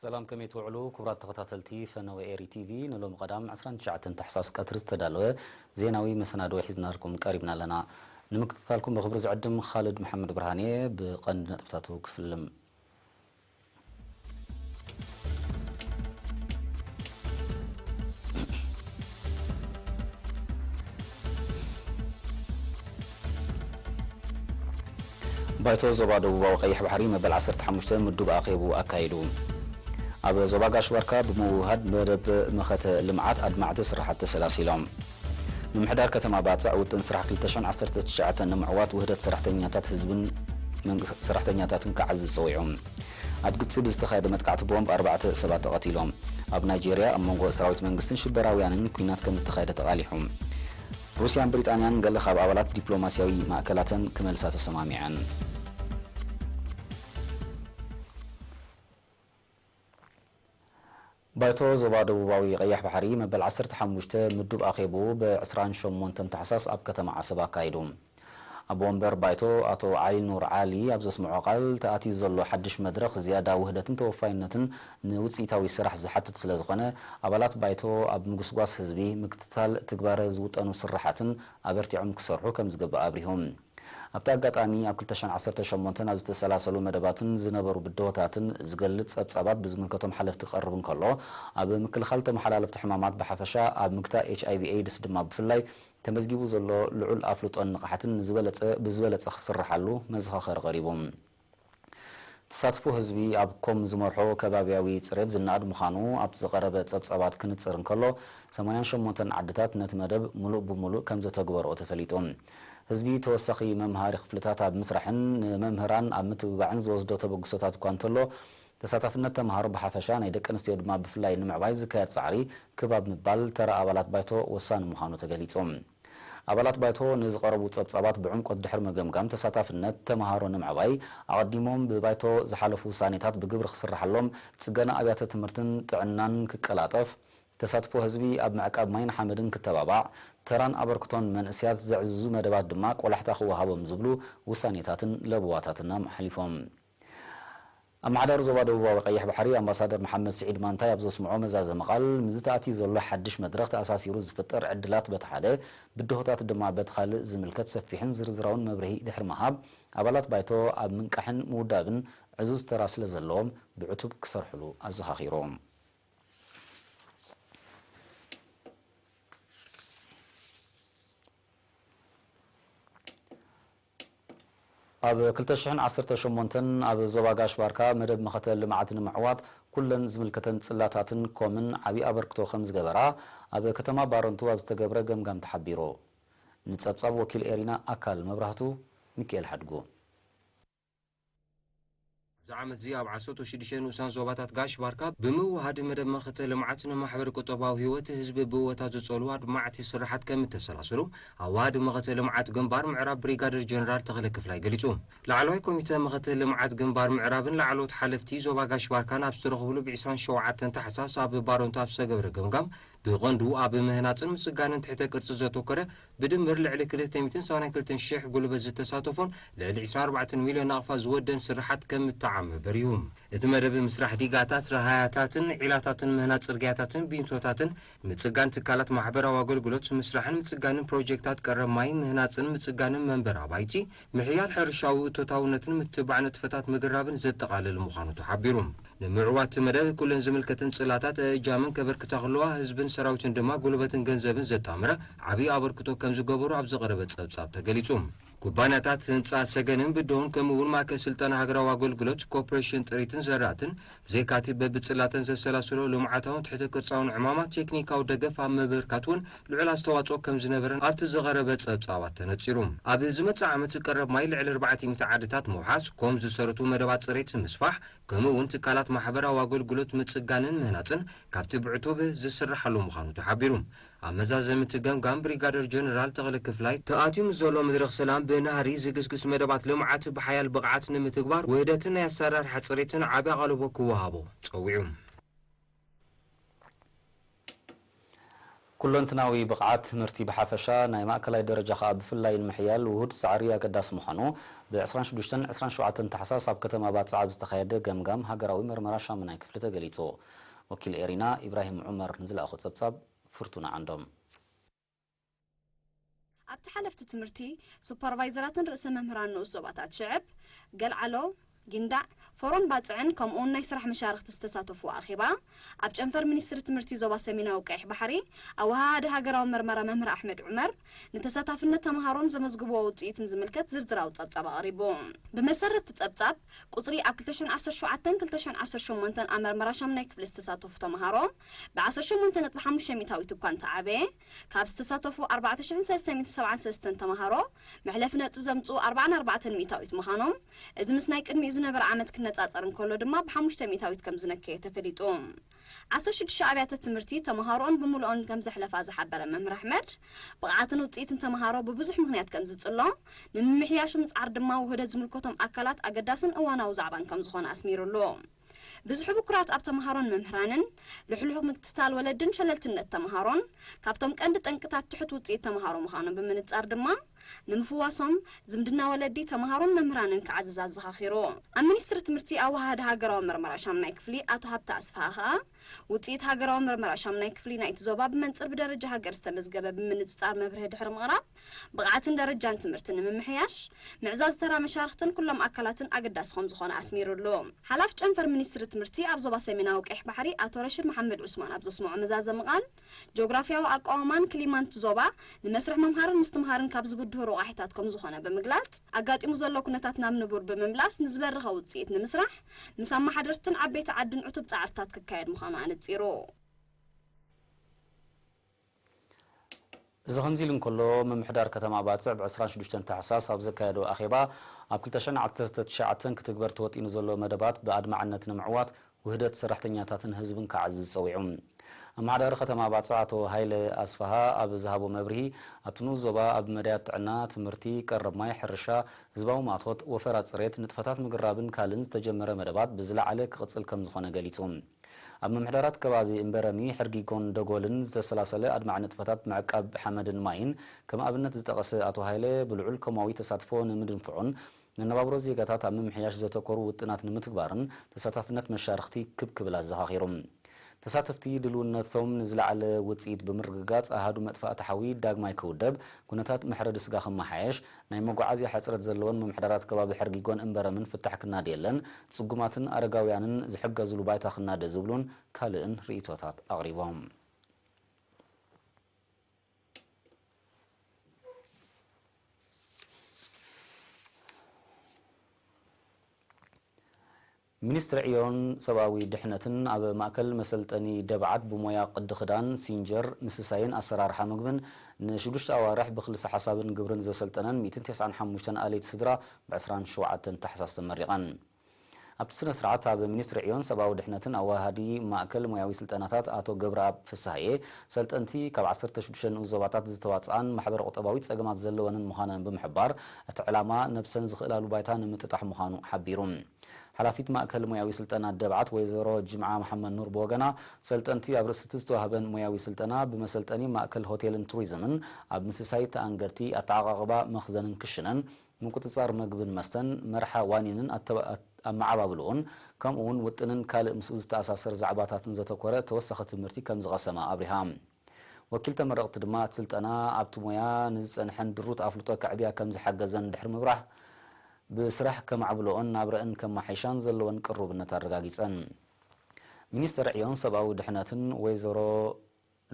ሰላም ከመይ ትውዕሉ ክቡራት ተኸታተልቲ ፈነወ ኤሪ ቲቪ ንሎሚ ቀዳም 29 ታሕሳስ ቀትሪ ዝተዳለወ ዜናዊ መሰናድወ ሒዝናልኩም ቀሪብና ኣለና ንምክትታልኩም ብክብሪ ዝዕድም ኻልድ መሓመድ ብርሃን እየ ብቐንዲ ነጥብታቱ ክፍልም ባይቶ ዞባ ደቡባዊ ቀይሕ ባሕሪ መበል ዓሰርተ ሓሙሽተ ምዱብ ኣኼቡ ኣካይዱ። ኣብ ዞባ ጋሽ ባርካ ብምውህሃድ መደብ መኸተ ልምዓት ኣድማዕቲ ስራሓት ተሰላሲሎም። ምምሕዳር ከተማ ባጽዕ ውጥን ስራሕ ክልተ ሽሕን ዓሰርተ ትሽዓተን ንምዕዋት ውህደት ሰራሕተኛታት ህዝብን ሰራሕተኛታትን ክዓዝዝ ጸዊዑ። ኣብ ግብጺ ብዝተኻየደ መጥቃዕቲ ቦምብ ኣርባዕተ ሰባት ተቐቲሎም። ኣብ ናይጀርያ ኣብ መንጎ ሰራዊት መንግስትን ሽበራውያንን ኲናት ከም እተኻየደ ተቓሊሑ። ሩስያን ብሪጣንያን ገለ ካብ ኣባላት ዲፕሎማስያዊ ማእከላተን ክመልሳ ተሰማሚዐን። ባይቶ ዞባ ደቡባዊ ቀይሕ ባሕሪ መበል ዓሰርተ ሓሙሽተ ምዱብ ኣኼብኡ ብ ዕስራን ሸሞንተን ታሕሳስ ኣብ ከተማ ዓሰብ ኣካይዱ። ኣቦ ወንበር ባይቶ ኣቶ ዓሊ ኑር ዓሊ ኣብ ዘስምዖ ቃል፣ ተኣትዩ ዘሎ ሓድሽ መድረኽ ዝያዳ ውህደትን ተወፋይነትን ንውጽኢታዊ ስራሕ ዝሓትት ስለዝኾነ ኣባላት ባይቶ ኣብ ምጉስጓስ ህዝቢ፣ ምክትታል ትግባረ ዝውጠኑ ስርሓትን ኣበርቲዖም ክሰርሑ ከምዝግባእ ኣብሪሁ። ኣብቲ ኣጋጣሚ ኣብ ክልተ ሽሕን ዓሰርተን ሸሞንተን ኣብ ዝተሰላሰሉ መደባትን ዝነበሩ ብድሆታትን ዝገልጽ ጸብጻባት ብዝምልከቶም ሓለፍቲ ክቐርብ እንከሎ፣ ኣብ ምክልኻል ተመሓላለፍቲ ሕማማት ብሓፈሻ ኣብ ምግታእ ኤችኣይቪ ኤይድስ ድማ ብፍላይ ተመዝጊቡ ዘሎ ልዑል ኣፍልጦን ንቕሓትን ንዝበለጸ ብዝበለጸ ክስርሓሉ መዘኻኸሪ ቀሪቡ። ተሳትፎ ህዝቢ ኣብ ኮም ዝመርሖ ከባብያዊ ፅሬት ዝነኣድ ምዃኑ ኣብቲ ዝቐረበ ፀብፃባት ክንፅር እንከሎ፣ ሰማንያን ሸሞንተን ዓድታት ነቲ መደብ ሙሉእ ብሙሉእ ከምዘተግበርኦ ተፈሊጡ። ህዝቢ ተወሳኺ መምሃሪ ክፍልታት ኣብ ምስራሕን ንመምህራን ኣብ ምትብባዕን ዝወስዶ ተበግሶታት እኳ እንተሎ፣ ተሳታፍነት ተምሃሮ ብሓፈሻ ናይ ደቂ ኣንስትዮ ድማ ብፍላይ ንምዕባይ ዝካየድ ፃዕሪ ክብ ኣብ ምባል ተራ ኣባላት ባይቶ ወሳኒ ምዃኑ ተገሊፁ። ኣባላት ባይቶ ንዝቐረቡ ጸብጻባት ብዕምቆት ድሕሪ ምግምጋም፣ ተሳታፍነት ተመሃሮ ንምዕባይ፣ ኣቐዲሞም ብባይቶ ዝሓለፉ ውሳኔታት ብግብሪ ክስርሓሎም፣ ጽገና ኣብያተ ትምህርትን ጥዕናን ክቀላጠፍ፣ ተሳትፎ ህዝቢ ኣብ ምዕቃብ ማይን ሓመድን ክተባባዕ፣ ተራን ኣበርክቶን መንእስያት ዘዕዝዙ መደባት ድማ ቆላሕታ ክወሃቦም ዝብሉ ውሳኔታትን ለበዋታትን ኣመሓሊፎም። ኣመሓዳሪ ዞባ ደቡባዊ ቀይሕ ባሕሪ ኣምባሳደር መሓመድ ስዒድ ማንታይ ኣብ ዘስምዖ መዛዘሚ ቃል፣ ምስዚ ተኣትዩ ዘሎ ሓድሽ መድረኽ ተኣሳሲሩ ዝፍጠር ዕድላት በቲ ሓደ፣ ብድሆታት ድማ በቲ ካልእ ዝምልከት ሰፊሕን ዝርዝራውን መብርሂ ድሕሪ ምሃብ፣ ኣባላት ባይቶ ኣብ ምንቃሕን ምውዳብን ዕዙዝ ተራ ስለዘለዎም ብዕቱብ ክሰርሕሉ ኣዘኻኺሩ። ኣብ ክልተ ሽሕን ዓሰርተ ሸሞንተን ኣብ ዞባ ጋሽ ባርካ መደብ መኸተ ልምዓት ንምዕዋት ኩለን ዝምልከተን ጽላታትን ኮምን ዓቢ ኣበርክቶ ከምዝገበራ ኣብ ከተማ ባረንቱ ኣብ ዝተገብረ ገምጋም ተሓቢሩ። ንጸብጻብ ወኪል ኤሪና ኣካል መብራህቱ ሚኪኤል ሓድጉ። ኣብዚ ዓመት'ዚ ኣብ ዓሰርተው ሽዱሽተ ንኡሳን ዞባታት ጋሽ ባርካ ብምውህሃድ መደብ መኸተ ልምዓት ንማሕበረ ቁጠባዊ ህይወት ህዝቢ ብእወታ ዝጸሉ ኣድማዕቲ ስርሓት ከምእተሰላሰሉ ኣዋሃዲ መኸተ ልምዓት ግንባር ምዕራብ ብሪጋደር ጀነራል ተኽለ ክፍላይ ገሊጹ። ላዕለዋይ ኮሚተ መኸተ ልምዓት ግንባር ምዕራብን ላዕለዎት ሓለፍቲ ዞባ ጋሽ ባርካን ኣብ ዝተረኽብሉ ብ ዕስራን ሸውዓተን ታሕሳስ ኣብ ባረንቱ ኣብ ዝተገብረ ገምጋም ብቐንዱ ኣብ ምህናጽን ምጽጋንን ትሕተ ቅርጺ ዘተኮረ፣ ብድምር ልዕሊ ክልተ ሚእትን ሰማንያን ክልተን ሽሕ ጉልበት ዝተሳተፎን ልዕሊ ዕስራን ኣርባዕተን ሚልዮን ናቕፋ ዝወደን ስርሓት ከም እተዓመ በሪሁ። እቲ መደብ ምስራሕ ዲጋታት፣ ረሃያታትን ዒላታትን፣ ምህናጽ ጽርግያታትን ቢንቶታትን፣ ምጽጋን ትካላት ማሕበራዊ ኣገልግሎት፣ ምስራሕን ምጽጋንን ፕሮጀክታት ቀረብ ማይ፣ ምህናጽን ምጽጋንን መንበሪ ኣባይቲ፣ ምሕያል ሕርሻዊ እቶታውነትን ምትብባዕ ንጥፈታት ምግራብን ዘጠቓልል ምዃኑ ተሓቢሩ። ንምዕዋት እቲ መደብ ኩለን ዝምልከተን ጽላታት እእጃመን ከበርክታ ክለዋ፣ ህዝብን ሰራዊትን ድማ ጉልበትን ገንዘብን ዘጣምረ ዓብይ ኣበርክቶ ከምዝገበሩ ኣብ ዝቐረበ ጸብጻብ ተገሊጹ። ኩባንያታት ህንጻ ሰገንን ብደሆን ከምኡ'ውን ማእከል ስልጠና ሃገራዊ ኣገልግሎት፣ ኮርፖሬሽን ጥሪትን ዘራእትን፣ ብዘይካ'ቲ በብጽላተን ዘሰላስሎ ልምዓታውን ትሕተ ቅርጻውን ዕማማት፣ ቴክኒካዊ ደገፍ ኣብ ምብርካት እውን ልዑል ኣስተዋጽኦ ከም ዝነበረን ኣብ'ቲ ዝቐረበ ጸብጻባት ተነጺሩ። ኣብ ዝመጽእ ዓመት ቀረብ ማይ ልዕሊ ኣርባዕተ ሚእቲ ዓድታት ምውሓስ፣ ኮም ዝሰረቱ መደባት ጽሬት ምስፋሕ፣ ከምኡ እውን ትካላት ማሕበራዊ ኣገልግሎት ምጽጋንን ምህናጽን ካብ'ቲ ብዕቱብ ዝስራሓሉ ምዃኑ ተሓቢሩ። ኣብ መዛዘሚ እቲ ገምጋም ብሪጋደር ጀነራል ተኽለ ክፍላይ፣ ተኣትዩ ምስ ዘሎ መድረኽ ሰላም ብናህሪ ዝግስግስ መደባት ልምዓት ብሓያል ብቕዓት ንምትግባር ውህደትን ናይ ኣሰራርሓ ፅሬትን ዓብይ ኣቓልቦ ክወሃቦ ፀዊዑ። ኩለንትናዊ ብቕዓት ትምህርቲ ብሓፈሻ ናይ ማእከላይ ደረጃ ከኣ ብፍላይ ንምሕያል ውሁድ ፃዕሪ ኣገዳሲ ምዃኑ ብ ዕስራን ሽዱሽተን ዕስራን ሸውዓተን ታሕሳስ ኣብ ከተማ ባጽዕ ኣብ ዝተኻየደ ገምጋም ሃገራዊ መርመራ ሻሙናይ ክፍሊ ተገሊጹ። ወኪል ኤሪና ኢብራሂም ዑመር ንዝለኣኾ ጸብጻብ ፍርቱና ዓንዶም። ኣብቲ ሓለፍቲ ትምህርቲ፣ ሱፐርቫይዘራትን ርእሰ መምህራን ንኡስ ዞባታት ሽዕብ፣ ገልዓሎ፣ ጊንዳዕ፣ ፎሮን ባጽዕን ከምኡ'ውን ናይ ስራሕ መሻርኽቲ ዝተሳተፍዎ ኣኼባ፣ ኣብ ጨንፈር ሚኒስትሪ ትምህርቲ ዞባ ሰሜናዊ ቀይሕ ባሕሪ ኣወሃሃዲ ሃገራዊ መርመራ መምህር ኣሕመድ ዑመር፣ ንተሳታፍነት ተምሃሮን ዘመዝግቡዎ ውፅኢትን ዝምልከት ዝርዝራዊ ፀብፃብ ኣቕሪቡ። ብመሰረት እቲ ፀብፃብ፣ ቁፅሪ ኣብ ክልተ ሽሕን ዓሰርተ ሸውዓተን ክልተ ሽሕን ዓሰርተ ሸሞንተን ኣብ መርመራ ሻሙናይ ክፍሊ ዝተሳተፉ ተምሃሮ ብዓሰርተ ሸሞንተ ነጥቢ ሓሙሽተ ሚእታዊት እኳ እንተዓበየ፣ ካብ ዝተሳተፉ ኣርባዕተ ሽሕን ሰለስተ ሚእትን ሰብዓን ሰለስተን ተምሃሮ መሕለፊ ነጥቢ ዘምፅኡ ኣርብዓን ኣርባዕተን ሚእታዊት ምዃኖም፣ እዚ ምስ ናይ ቅድሚኡ ዝነበረ ዓመት ክነፃፀር እንከሎ ድማ ብሓሙሽተ ሚእታዊት ከምዝነከየ ተፈሊጡ። ዓሰርተ ሽዱሽተ ኣብያተ ትምህርቲ ተመሃሮኡን ብምሉኦን ከምዘሕለፋ ዝሓበረ መምህር ኣሕመድ፣ ብቕዓትን ውጽኢትን ተመሃሮ ብብዙሕ ምኽንያት ከምዝጽሎ፣ ንምምሕያሹ ምጽዓር ድማ ውህደት ዝምልከቶም ኣካላት ኣገዳስን እዋናዊ ዛዕባን ከምዝኾነ ኣስሚርሉ። ብዝሒ ብኩራት ኣብ ተመሃሮን መምህራንን፣ ልሕሉሕ ምክትታል ወለድን ሸለልትነት ተመሃሮን፣ ካብቶም ቀንዲ ጠንቅታት ትሑት ውጽኢት ተመሃሮ ምዃኖም ብምንጻር ድማ፣ ንምፍዋሶም፣ ዝምድና ወለዲ፣ ተምሃሮን መምህራንን ክዓዝዝ ኣዘኻኺሩ። ኣብ ሚኒስትሪ ትምህርቲ ኣወሃሃዲ ሃገራዊ መርመራ ሻምናይ ክፍሊ ኣቶ ሃብተ ኣስፍሃ ከኣ፣ ውጽኢት ሃገራዊ መርመራ ሻምናይ ክፍሊ ናይቲ ዞባ ብመንጽር ብደረጃ ሃገር ዝተመዝገበ ብምንጽጻር መብርሂ ድሕሪ ምቕራብ፣ ብቕዓትን ደረጃን ትምህርቲ ንምምሕያሽ፣ ምዕዛዝ ተራ መሻርኽትን ኩሎም ኣካላትን ኣገዳሲ ከምዝኾነ ኣስሚርሉ። ሓላፊ ጨንፈር ሚኒስትሪ ትምህርቲ ኣብ ዞባ ሰሜናዊ ቀይሕ ባሕሪ ኣቶ ረሽድ መሓመድ ዑስማን ኣብ ዘስመዖ መዛዘሚ ቃል፣ ጂኦግራፍያዊ ኣቋውማን ክሊማንት ዞባ ንመስርሕ ምምሃርን ምስትምሃርን ካብ ዝብድሁ ሮቛሒታት ከምዝኾነ ብምግላጽ፣ ኣጋጢሙ ዘሎ ኩነታት ናብ ንቡር ብምምላስ ንዝበረኸ ውጽኢት ንምስራሕ ምስ ኣመሓደርትን ዓበይቲ ዓድን ዕቱብ ጻዕርታት ክካየድ ምዃኑ ኣነጺሩ። እዚ ከምዚሉ እንከሎ፣ ምምሕዳር ከተማ ባጽዕ ብ ዕስራን ሽዱሽተን ታሕሳስ ኣብ ዘካየዶ ኣኼባ፣ ኣብ ክልተ ሽሕን ዓሰርተ ትሽዓተን ክትግበር ተወጢኑ ዘሎ መደባት ብኣድማዕነት ንምዕዋት ውህደት ሰራሕተኛታትን ህዝብን ክዓዝዝ ጸዊዑ። ኣመሓዳሪ ከተማ ባጽዕ ኣቶ ሃይለ ኣስፍሃ ኣብ ዝሃቦ መብርሂ፣ ኣብቲ ንኡስ ዞባ ኣብ መዳያት ጥዕና፣ ትምህርቲ፣ ቀረብ ማይ፣ ሕርሻ፣ ህዝባዊ ማእቶት፣ ወፈራ ጽሬት፣ ንጥፈታት ምግራብን ካልእን ዝተጀመረ መደባት ብዝለዓለ ክቕጽል ከምዝኾነ ገሊጹ። ኣብ ምምሕዳራት ከባቢ እምበረሚ፣ ሕርጊጎን ደጎልን ዝተሰላሰለ ኣድማዒ ንጥፈታት ምዕቃብ ሓመድን ማይን ከም ኣብነት ዝጠቐሰ ኣቶ ሃይለ፣ ብልዑል ኮማዊ ተሳትፎ ንምድንፍዑን መነባብሮ ዜጋታት ኣብ ምምሕያሽ ዘተኮሩ ውጥናት ንምትግባርን ተሳታፍነት መሻርኽቲ ክብ ክብል ኣዘኻኺሩ። ተሳተፍቲ ድልውነቶም ንዝለዓለ ውፅኢት ብምርግጋፅ ኣሃዱ መጥፋእቲ ሓዊ ዳግማይ ክውደብ፣ ኩነታት መሕረዲ ስጋ ክመሓየሽ፣ ናይ መጓዓዝያ ሕጽረት ዘለወን ምምሕዳራት ከባቢ ሕርጊጎን እምበረምን ፍታሕ ክናድየለን፣ ጽጉማትን ኣረጋውያንን ዝሕገዝሉ ባይታ ክናደ ዝብሉን ካልእን ርእይቶታት ኣቕሪቦም። ሚኒስትሪ ዕዮን ሰብኣዊ ድሕነትን ኣብ ማእከል መሰልጠኒ ደብዓት ብሞያ ቅዲ ክዳን፣ ሲንጀር፣ ምስሳይን ኣሰራርሓ ምግብን ንሽዱሽተ ኣዋርሕ ብክልሰ ሓሳብን ግብርን ዘሰልጠነን ሚእትን ተስዓን ሓሙሽተን ኣለይቲ ስድራ ብ ዕስራን ሸውዓተን ታሕሳስ ተመሪቐን። ኣብቲ ስነ ስርዓት ኣብ ሚኒስትሪ ዕዮን ሰብኣዊ ድሕነትን ኣዋሃሃዲ ማእከል ሞያዊ ስልጠናታት ኣቶ ገብረኣብ ፍስሃዬ ሰልጠንቲ ካብ ዓሰርተ ሽዱሽተ ንኡስ ዞባታት ዝተዋጽኣን ማሕበረ ቁጠባዊ ጸገማት ዘለወንን ምዃነን ብምሕባር እቲ ዕላማ ነብሰን ዝኽእላሉ ባይታ ንምጥጣሕ ምዃኑ ሓቢሩ። ሓላፊት ማእከል ሞያዊ ስልጠና ደብዓት ወይዘሮ ጅምዓ መሓመድኑር ብወገና፣ ሰልጠንቲ ኣብ ርእሲ'ቲ ዝተዋህበን ሞያዊ ስልጠና፣ ብመሰልጠኒ ማእከል ሆቴልን ቱሪዝምን፣ ኣብ ምስሳይ ተኣንገድቲ፣ ኣተዓቓቕባ መኽዘንን ክሽነን፣ ምቁጽጻር መግብን መስተን፣ መርሓ ዋኒንን ኣመዓባብልኡን፣ ከምኡ'ውን ውጥንን ካልእ ምስኡ ዝተኣሳሰር ዛዕባታትን ዘተኮረ ተወሳኺ ትምህርቲ ከምዝቐሰማ ኣብሪሃ። ወኪል ተመረቕቲ ድማ እቲ ስልጠና ኣብቲ ሞያ ንዝፀንሐን ድሩት ኣፍልጦ ከዕብያ ከምዝሓገዘን ድሕሪ ምብራህ ብስራሕ ከማዕብለኦን ናብረእን ከማሓይሻን ዘለወን ቅሩብነት ኣረጋጊፀን። ሚኒስትር ዕዮን ሰብኣዊ ድሕነትን ወይዘሮ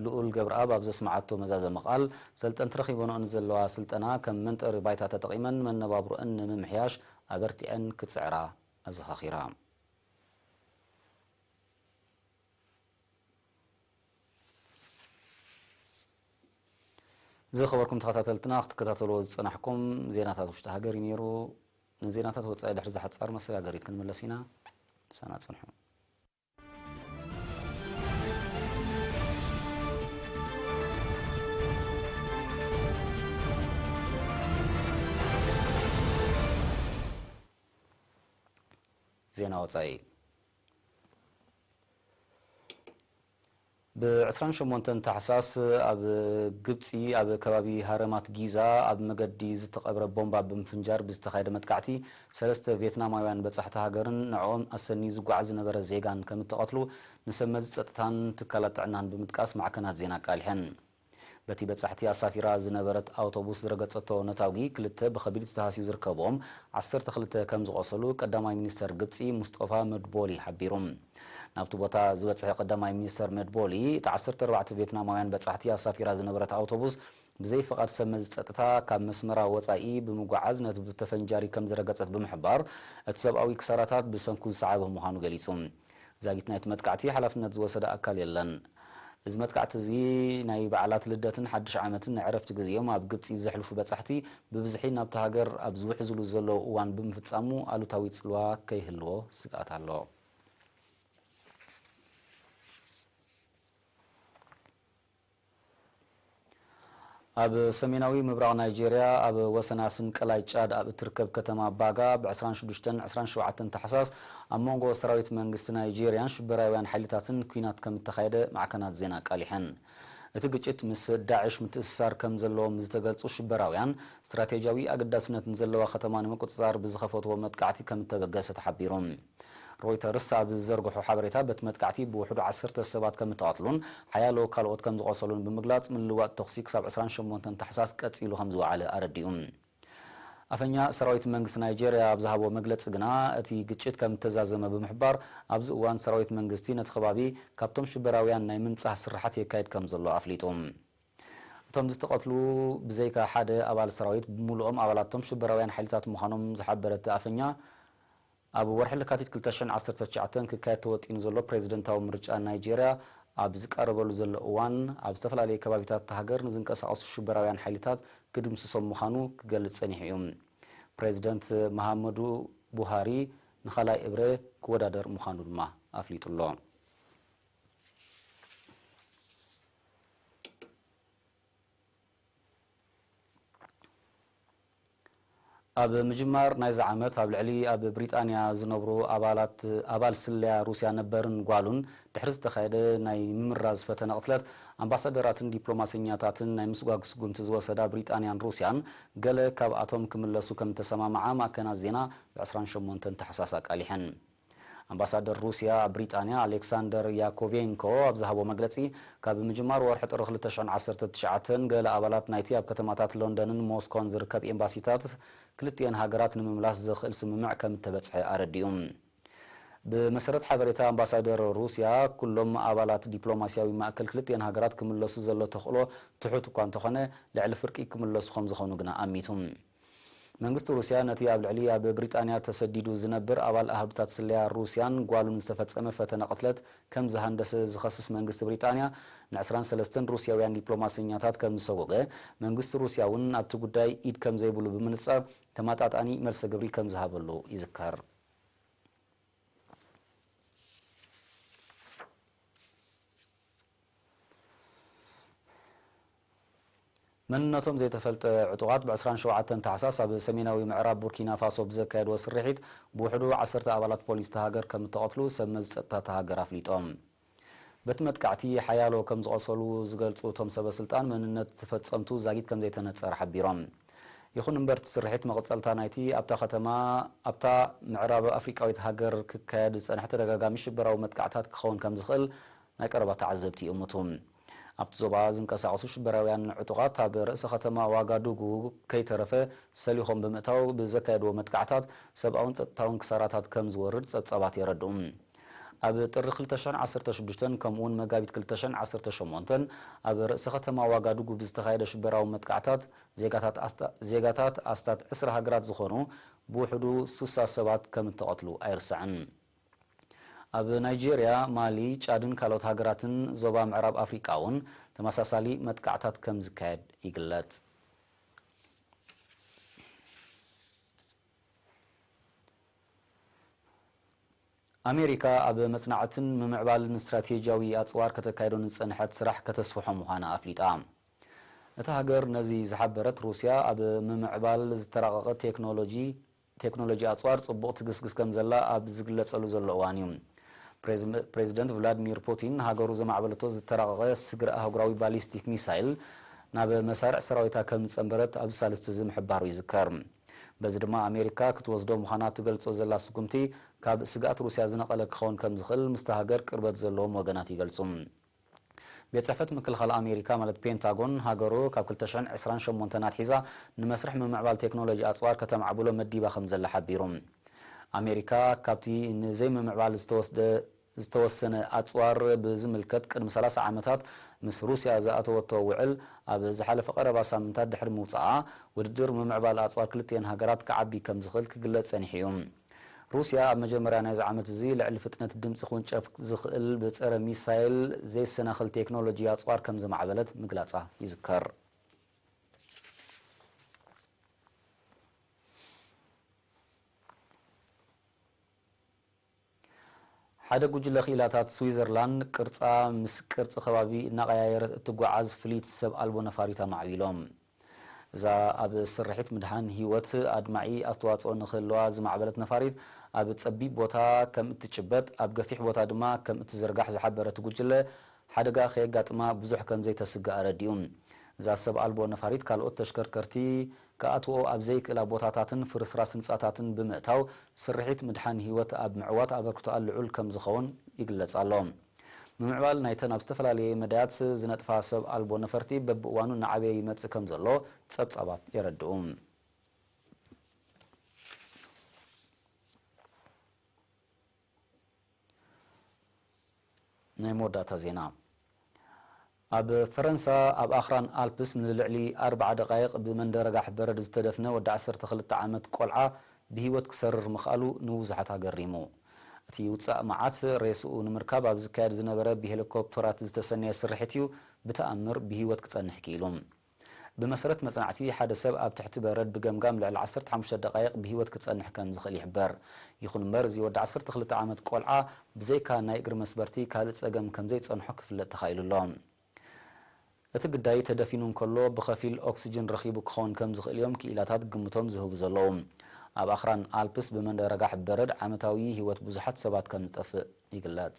ልኡል ገብረኣብ ኣብ ዘስመዓቶ መዛዘሚ ቃል፣ ሰልጠንቲ ረኺበንኦ ንዘለዋ ስልጠና ከም መንጠሪ ባይታ ተጠቒመን መነባብሮእን ንምምሕያሽ ኣበርቲዐን ክፅዕራ ኣዘኻኺራ። ዝኸበርኩም ተኸታተልትና ክትከታተልዎ ዝጸናሕኩም ዜናታት ውሽጢ ሃገር እዩ ነይሩ። ንዜናታት ወጻኢ ድሕሪ ዝሓጻር መሰጋገሪት ክንምለስ ኢና። ምሳና ጽንሑ። ዜና ወጻኢ ብ ዕስራን ሸሞንተን ታሕሳስ ኣብ ግብጺ ኣብ ከባቢ ሃረማት ጊዛ ኣብ መገዲ ዝተቐብረ ቦምባ ብምፍንጃር ብዝተኻየደ መጥቃዕቲ ሰለስተ ቬትናማውያን በጻሕቲ ሃገርን ንዕኦም ኣሰንዩ ዝጓዓዝ ዝነበረ ዜጋን ከምእተቐትሉ ንሰብመዚ ጸጥታን ትካላት ጥዕናን ብምጥቃስ ማዕከናት ዜና ኣቃሊሐን። በቲ በጻሕቲ ኣሳፊራ ዝነበረት ኣውቶቡስ ዝረገጸቶ ነታጒ ክልተ ብኸቢድ ዝተሃስዩ ዝርከብዎም ዓሰርተ ክልተ ከም ዝቖሰሉ ቀዳማይ ሚኒስተር ግብጺ ሙስጦፋ መድቦሊ ሓቢሩ። ናብቲ ቦታ ዝበጽሐ ቀዳማይ ሚኒስተር መድቦሊ፣ እታ ዓሰርተ ኣርባዕተ ቬትናማውያን በጻሕቲ ኣሳፊራ ዝነበረት ኣውቶቡስ ብዘይ ፍቓድ ሰብመዚ ጸጥታ ካብ መስመራ ወጻኢ ብምጉዓዝ ነቲ ብተፈንጃሪ ከም ዝረገጸት ብምሕባር፣ እቲ ሰብኣዊ ክሳራታት ብሰንኩ ዝሰዓበ ምዃኑ ገሊጹ። ዛጊት ናይቲ መጥቃዕቲ ሓላፍነት ዝወሰደ ኣካል የለን። እዚ መጥቃዕቲ እዚ ናይ በዓላት ልደትን ሓድሽ ዓመትን ናይ ዕረፍቲ ግዜኦም ኣብ ግብጺ ዘሕልፉ በጻሕቲ ብብዝሒ ናብታ ሃገር ኣብ ዝውሕዝሉ ዘለዉ እዋን ብምፍጻሙ ኣሉታዊ ጽልዋ ከይህልዎ ስግኣት ኣሎ። ኣብ ሰሜናዊ ምብራቕ ናይጀርያ ኣብ ወሰን ኣስም ቀላይ ጫድ ኣብ እትርከብ ከተማ ባጋ ብ ዕስራን ሽዱሽተን ዕስራን ሸውዓተን ታሕሳስ ኣብ መንጎ ሰራዊት መንግስቲ ናይጀርያን ሽበራውያን ሓይልታትን ኲናት ከም እተኻየደ ማዕከናት ዜና ኣቃሊሐን። እቲ ግጭት ምስ ዳዕሽ ምትእስሳር ከም ዘለዎም ዝተገልጹ ሽበራውያን፣ ስትራቴጅያዊ ኣገዳስነት ንዘለዋ ከተማ ንምቁጽጻር ብዝኸፈትዎ መጥቃዕቲ ከም እተበገሰ ተሓቢሩ። ሮይተርስ ኣብ ዝዘርግሖ ሓበሬታ፣ በቲ መጥቃዕቲ ብውሕዱ ዓሰርተ ሰባት ከም እተቐትሉን ሓያሎ ካልኦት ከም ዝቖሰሉን ብምግላጽ፣ ምልውዋጥ ተዅሲ ክሳብ ዕስራን ሸሞንተን ታሕሳስ ቀጺሉ ከም ዝወዓለ ኣረዲኡ። ኣፈኛ ሰራዊት መንግስቲ ናይጀርያ ኣብ ዝሃቦ መግለጺ ግና፣ እቲ ግጭት ከም እተዛዘመ ብምሕባር፣ ኣብዚ እዋን ሰራዊት መንግስቲ ነቲ ከባቢ ካብቶም ሽበራውያን ናይ ምንጻህ ስርሓት የካይድ ከም ዘሎ ኣፍሊጡ። እቶም ዝተቐትሉ ብዘይካ ሓደ ኣባል ሰራዊት ብምሉኦም ኣባላት'ቶም ሽበራውያን ሓይልታት ምዃኖም ዝሓበረ እቲ ኣፈኛ፣ ኣብ ወርሒ ለካቲት ክልተ ሽሕን ዓሰርተ ትሽዓተን ክካየድ ተወጢኑ ዘሎ ፕሬዚደንታዊ ምርጫ ናይጀርያ ኣብ ዝቃረበሉ ዘሎ እዋን ኣብ ዝተፈላለየ ከባቢታት እታ ሃገር ንዝንቀሳቐሱ ሽበራውያን ሓይልታት ክድምስሶም ምዃኑ ክገልፅ ፀኒሑ እዩ። ፕሬዚደንት መሃመዱ ቡሃሪ ንካልኣይ እብረ ክወዳደር ምዃኑ ድማ ኣፍሊጡ ኣሎ። ኣብ ምጅማር ናይዚ ዓመት ኣብ ልዕሊ ኣብ ብሪጣንያ ዝነብሩ ኣባላት ኣባል ስለያ ሩስያ ነበርን ጓሉን ድሕሪ ዝተኻየደ ናይ ምምራዝ ፈተነ ቅትለት ኣምባሳደራትን ዲፕሎማሰኛታትን ናይ ምስጓግ ስጉምቲ ዝወሰዳ ብሪጣንያን ሩስያን ገለ ካብኣቶም ክምለሱ ከምተሰማምዓ ማእከናት ዜና ብ ዕስራን ሸሞንተን ታሕሳስ ኣቃሊሐን። ኣምባሳደር ሩስያ ኣብ ብሪጣንያ ኣሌክሳንደር ያኮቬንኮ ኣብ ዝሃቦ መግለጺ፣ ካብ ምጅማር ወርሒ ጥሪ ክልተ ሽሕን ዓሰርተ ትሽዓተን ገለ ኣባላት ናይቲ ኣብ ከተማታት ሎንደንን ሞስኮን ዝርከብ ኤምባሲታት ክልቲኤን ሃገራት ንምምላስ ዘኽእል ስምምዕ ከም እተበጽሐ ኣረዲኡ። ብመሰረት ሓበሬታ ኣምባሳደር ሩስያ፣ ኩሎም ኣባላት ዲፕሎማስያዊ ማእከል ክልቲኤን ሃገራት ክምለሱ ዘሎ ተኽእሎ ትሑት እኳ እንተኾነ፣ ልዕሊ ፍርቂ ክምለሱ ከም ዝኾኑ ግና ኣሚቱ። መንግስቲ ሩስያ ነቲ ኣብ ልዕሊ ኣብ ብሪጣንያ ተሰዲዱ ዝነብር ኣባል ኣሃዱታት ስለያ ሩስያን ጓሉን ዝተፈጸመ ፈተነ ቅትለት ከም ዝሃንደሰ ዝኸስስ መንግስቲ ብሪጣንያ ን ዕስራን ሰለስተን ሩስያውያን ዲፕሎማሰኛታት ከም ዝሰወገ መንግስቲ ሩስያ ውን ኣብቲ ጉዳይ ኢድ ከም ዘይብሉ ብምንጻር ተመጣጣኒ መልሰ ግብሪ ከም ዝሃበሉ ይዝከር። መንነቶም ዘይተፈልጠ ዕጡቓት ብ ዕስራን ሸውዓተን ታሕሳስ ኣብ ሰሜናዊ ምዕራብ ቡርኪና ፋሶ ብዘካየድዎ ስርሒት ብውሕዱ ዓሰርተ ኣባላት ፖሊስ እታ ሃገር ከም እተቐትሉ ሰብ መዚ ጸጥታ እታ ሃገር ኣፍሊጦም። በቲ መጥቃዕቲ ሓያሎ ከም ዝቖሰሉ ዝገልጹ እቶም ሰበስልጣን፣ መንነት እቲ ፈጸምቱ ዛጊት ከም ዘይተነጸረ ሓቢሮም። ይኹን እምበር እቲ ስርሒት መቐጸልታ ናይቲ ኣብታ ከተማ ኣብታ ምዕራብ ኣፍሪቃዊት ሃገር ክካየድ ዝጸንሐ ተደጋጋሚ ሽበራዊ መጥቃዕትታት ክኸውን ከም ዝኽእል ናይ ቀረባ ተዓዘብቲ ይእምቱ። ኣብቲ ዞባ ዝንቀሳቐሱ ሽበራውያን ዕጡቓት ኣብ ርእሰ ከተማ ዋጋዱጉ ከይተረፈ ሰሊኾም ብምእታው ብዘካየድዎ መጥቃዕታት ሰብኣውን ጸጥታውን ክሳራታት ከም ዝወርድ ጸብጻባት የረድኡ። ኣብ ጥሪ ክልተ ሽሕን ዓሰርተ ሽዱሽተን ከምኡ'ውን መጋቢት ክልተ ሽሕን ዓሰርተ ሸሞንተን ኣብ ርእሰ ከተማ ዋጋዱጉ ብዝተኻየደ ሽበራዊ መጥቃዕታት ዜጋታት ኣስታት ዕስራ ሃገራት ዝኾኑ ብውሕዱ ሱሳ ሰባት ከም እተቐትሉ ኣይርሳዕን። ኣብ ናይጀርያ፣ ማሊ፣ ጫድን ካልኦት ሃገራትን ዞባ ምዕራብ ኣፍሪቃ'ውን ተመሳሳሊ መጥቃዕታት ከም ዝካየድ ይግለጽ። ኣሜሪካ ኣብ መጽናዕትን ምምዕባልን ስትራቴጂያዊ ኣጽዋር ከተካይዶ ንዝጸንሐት ስራሕ ከተስፍሖ ምዃና ኣፍሊጣ። እታ ሃገር ነዚ ዝሓበረት፣ ሩስያ ኣብ ምምዕባል ዝተራቐቐ ቴክኖሎጂ፣ ቴክኖሎጂ ኣጽዋር ጽቡቕ ትግስግስ ከምዘላ ኣብ ዝግለጸሉ ዘሎ እዋን እዩ፣ ፕሬዚደንት ቭላድሚር ፑቲን ሃገሩ ዘማዕበለቶ ዝተራቐቐ ስግረ ኣህጉራዊ ባሊስቲክ ሚሳይል ናብ መሳርዕ ሰራዊታ ከምዝጸንበረት ኣብዚ ሳልስቲ እዚ ምሕባሩ ይዝከር። በዚ ድማ ኣሜሪካ ክትወስዶ ምዃና ትገልጾ ዘላ ስጉምቲ ካብ ስግኣት ሩስያ ዝነቐለ ክኸውን ከምዝኽእል ምስታ ሃገር ቅርበት ዘለዎም ወገናት ይገልጹ። ቤት ጽሕፈት ምክልኻል ኣሜሪካ ማለት ፔንታጎን፣ ሃገሩ ካብ ክልተ ሽሕን ዕስራን ሸሞንተን ኣትሒዛ ንመስርሕ ምምዕባል ቴክኖሎጂ ኣጽዋር ከተማዕብሎ መዲባ ከምዘላ ሓቢሩ። ኣሜሪካ ካብቲ ንዘይምምዕባል ዝተወስደ ዝተወሰነ ኣጽዋር ብዝምልከት ቅድሚ ሰላሳ ዓመታት ምስ ሩስያ ዝኣተወቶ ውዕል ኣብ ዝሓለፈ ቀረባ ሳምንታት ድሕሪ ምውጽኣ፣ ውድድር ምምዕባል ኣጽዋር ክልቲኤን ሃገራት ክዓቢ ከምዝኽእል ክግለጽ ጸኒሑ'ዩ። ሩስያ ኣብ መጀመርያ ናይዚ ዓመት'ዚ ልዕሊ ፍጥነት ድምጺ ክውንጨፍ ዝኽእል ብጸረ ሚሳይል ዘይሰናኽል ቴክኖሎጂ ኣጽዋር ከም ዘማዕበለት ምግላጻ ይዝከር። ሓደ ጉጅለ ክኢላታት ስዊዘርላንድ ቅርጻ ምስ ቅርጺ ከባቢ እናቐያየረት እትጓዓዝ ፍልይቲ ሰብ ኣልቦ ነፋሪት ኣማዕቢሎም። እዛ ኣብ ስርሒት ምድሓን ህይወት ኣድማዒ ኣስተዋጽኦ ንኽህልዋ ዝማዕበለት ነፋሪት፣ ኣብ ጸቢብ ቦታ ከም እትጭበጥ፣ ኣብ ገፊሕ ቦታ ድማ ከም እትዝርጋሕ ዝሓበረ እቲ ጉጅለ፣ ሓደጋ ከየጋጥማ ብዙሕ ከም ዘይተስግእ ኣረዲኡ። እዛ ሰብ ኣልቦ ነፋሪት ካልኦት ተሽከርከርቲ ክኣትውኦ ኣብ ዘይክእላ ቦታታትን ፍርስራስ ህንጻታትን ብምእታው፣ ስርሒት ምድሓን ህይወት ኣብ ምዕዋት ኣበርክቶኣ ልዑል ከም ዝኸውን ይግለጽ ኣሎ። ምምዕባል ናይተን ኣብ ዝተፈላለየ መዳያት ዝነጥፋ ሰብ ኣልቦ ነፈርቲ በብእዋኑ እናዓበየ ይመጽእ ከምዘሎ ጸብጻባት የረድኡ። ናይ መወዳእታ ዜና ኣብ ፈረንሳ ኣብ ኣኽራን ኣልፕስ ንልዕሊ ኣርብዓ ደቓይቕ ብመንደ ረጋሕ በረድ ዝተደፍነ ወዲ ዓሰርተ ክልተ ዓመት ቆልዓ ብህይወት ክሰርር ምኽኣሉ ንብዙሓት ኣገሪሙ። እቲ ውጻእ መዓት ሬስኡ ንምርካብ ኣብ ዝካየድ ዝነበረ ብሄሊኮፕተራት ዝተሰነየ ስርሒት'ዩ ብተኣምር ብህይወት ክጸንሕ ክኢሉ። ብመሰረት መጽናዕቲ፣ ሓደ ሰብ ኣብ ትሕቲ በረድ ብገምጋም ልዕሊ ዓሰርተ ሓሙሽተ ደቓይቕ ብህይወት ክጸንሕ ከም ዝኽእል ይሕበር። ይኹን እምበር፣ እዚ ወዲ ዓሰርተ ክልተ ዓመት ቆልዓ ብዘይካ ናይ እግሪ መስበርቲ ካልእ ጸገም ከም ዘይጸንሖ ክፍለጥ ተኻኢሉ ኣሎ። እቲ ግዳይ ተደፊኑ እንከሎ ብኸፊል ኦክስጅን ረኺቡ ክኸውን ከም ዝኽእል እዮም ክኢላታት ግምቶም ዝህቡ ዘለዉ። ኣብ ኣኽራን ኣልፕስ ብመንረጋሕ በረድ ዓመታዊ ህይወት ብዙሓት ሰባት ከም ዝጠፍእ ይግለጽ።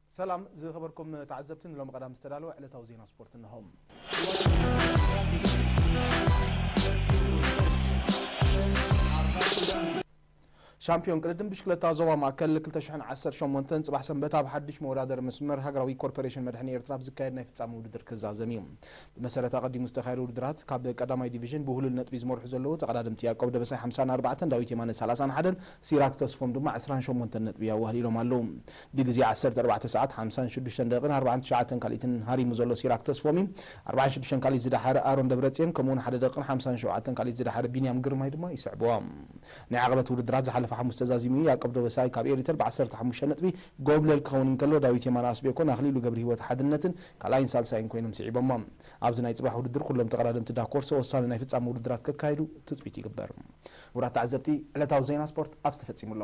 ሰላም ዝኸበርኩም ተዓዘብቲ ንሎሚ ቀዳም ዝተዳለወ ዕለታዊ ዜና ስፖርት እንሆ። ሻምፒዮን ቅድድም ብሽክለታ ዞባ ማእከል 2018 ፅባሕ ሰንበት ኣብ ሓድሽ መወዳደሪ መስመር ሃገራዊ ኮርፖሬሽን መድሕኒ ኤርትራ ኣብ ዝካየድ ናይ ፍፃሚ ውድድር ክዛዘም እዩ ብመሰረት ኣቐዲሙ ዝተካየደ ውድድራት ካብ ቀዳማይ ዲቪዥን ብውህሉል ነጥቢ ዝመርሑ ዘለዉ ተቐዳድምቲ ያቆብ ደበሳይ 54 ዳዊት የማነ 31 ሲራክ ተስፎም ድማ 28 ነጥቢ ኣዋህሊሎም ኣለዉ ብግዜ ዓሰርተ ኣርባዕተ ሰዓት ሓምሳን ሽዱሽተን ደቂቕን ኣርብዓን ትሽዓተን ካልኢትን ሃሪሙ ዘሎ ሲራክ ተስፎም'ዩ። ኣርብዓን ሽዱሽተን ካልኢት ዝደሓረ ኣሮን ደብረጽዮን ከምኡ'ውን ሓደ ደቂቕን ሓምሳን ሸውዓተን ካልኢት ዝደሓረ ቢንያም ግርማይ ድማ ይስዕብዎም። ናይ ዓቐበት ውድድራት ዝሓለፈ ሓሙስ ተዛዚሙ እዩ። ያቆብ ደበሳይ ካብ ኤሪተር ብዓሰርተ ሓሙሽተ ነጥቢ ጎብለል ክኸውን እንከሎ፣ ዳዊት የማነ ኣስቤኮን ኣኽሊሉ ገብርሂወት ሓድነትን ካልኣይን ሳልሳይን ኮይኖም ስዒቦሞ። ኣብዚ ናይ ጽባሕ ውድድር ኩሎም ተቐዳደምቲ ዳኮርሶ ወሳኒ ናይ ፍጻመ ውድድራት ከካይዱ ትጽቢት ይግበር። ክቡራት ተዓዘብቲ ዕለታዊ ዜና ስፖርት ኣብዚ ተፈጺሙ ኣሎ።